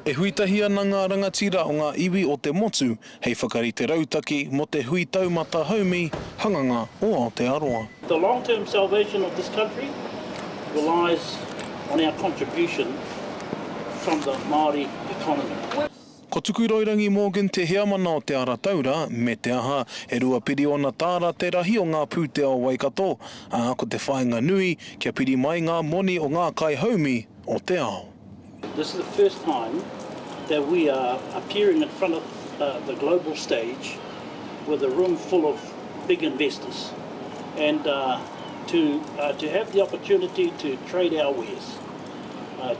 E hui tahi ana ngā rangatira o ngā iwi o te motu hei whakarite rautaki mō te Hui Taumata Haumi Hanganga o Aotearoa. The long term salvation of this country relies on our contribution from the Māori economy. Ko Tukuroirangi Morgan te heamana o Te Ara Taura, me te aha, e rua piriona tāra te rahi o ngā pūtea o Waikato, ā, ko te whāinga nui, kia piri mai ngā moni o ngā kaihaumi o te ao. This is the first time that we are appearing in front of the global stage with a room full of big investors and to have the opportunity to trade our wares.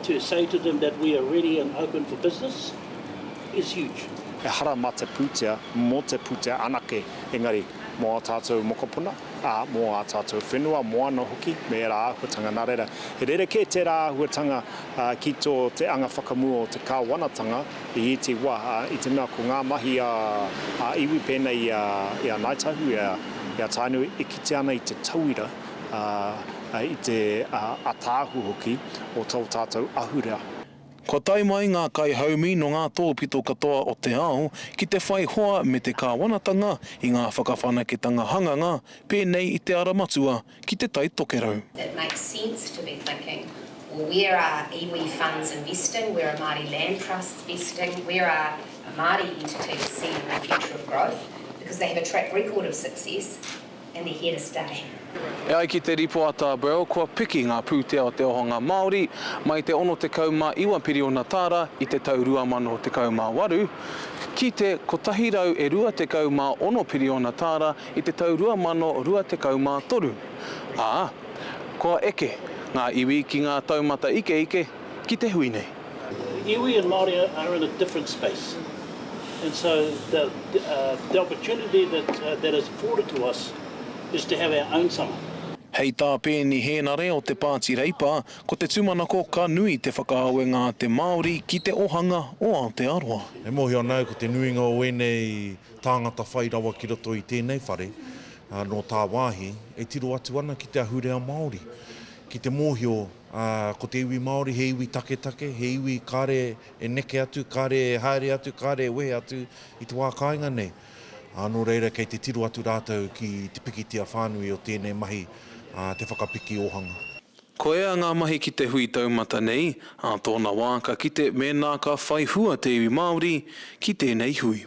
to say to them that we are ready and open for business is huge. Ehara mā te pūtea, mō te pūtea anake, engari mō ā tātou mokopuna, ā, mō ā tātou whenua, moana hoki, me ērā āhuatanga. Nā reira, he rerekē tērā āhuatanga ki tō te anga whakamua o te kāwanatanga i ētahi wā, ā, i te mea ko ngā mahi a ā iwi pēnei i a Ngāi Tahu, i a Tainui e kitea ana i te tauira, ā, i te ataahu hoki o tō tātou ahurea. Kua tae mai ngā kaihaumi nō ngā tōpito katoa o te ao ki te whai hoa me te kāwanatanga i ngā whakawhanaketanga hanganga pēnei i te Ara Matua ki Te Tai Tokerau. It makes sense to be thinking, well where are iwi funds investing, where are Māori land trusts investing, where are Māori entities seeing the future of growth because they have a track record of success, and they're here to stay. E ai ki te rīpoata Burrell kua piki ngā pūtea o te ohonga Māori mai te 69 piriona tāra i te tau 2018 ki te 126 piriona tāra i te tau 2023, ā, kua eke ngā iwi ki ngā taumata ikeike ki te hui nei. Iwi and Māori are in a different space and so the the opportunity that that is afforded to us is to have our own summer. Hei tā Peeni Hēnare o Te Pāti Reipa, ko te tūmanako ka nui te whakaawenga a te Māori ki te ohanga o Aotearoa. E mōhio ana au ko te nuinga o ēnei tāngata whai rawa ki roto i tēnei whare, nō tāwāhi, e tiro atu ana ki te ahurea Māori, ki te mōhio Ā, ko te iwi Māori he iwi taketake, he iwi kāre e neke atu, kāre e haere atu, kāre e wehe atu i te wā kāinga nei. Ā, nō reira kei te tiro atu rātou ki te pikitia whānui o tēnei mahi, ā, te whakapiki ōhanga. Koia ngā mahi ki te hui taumata nei, ā tōna wā ka kite mēnā ka whai hua te iwi Māori ki tēnei hui.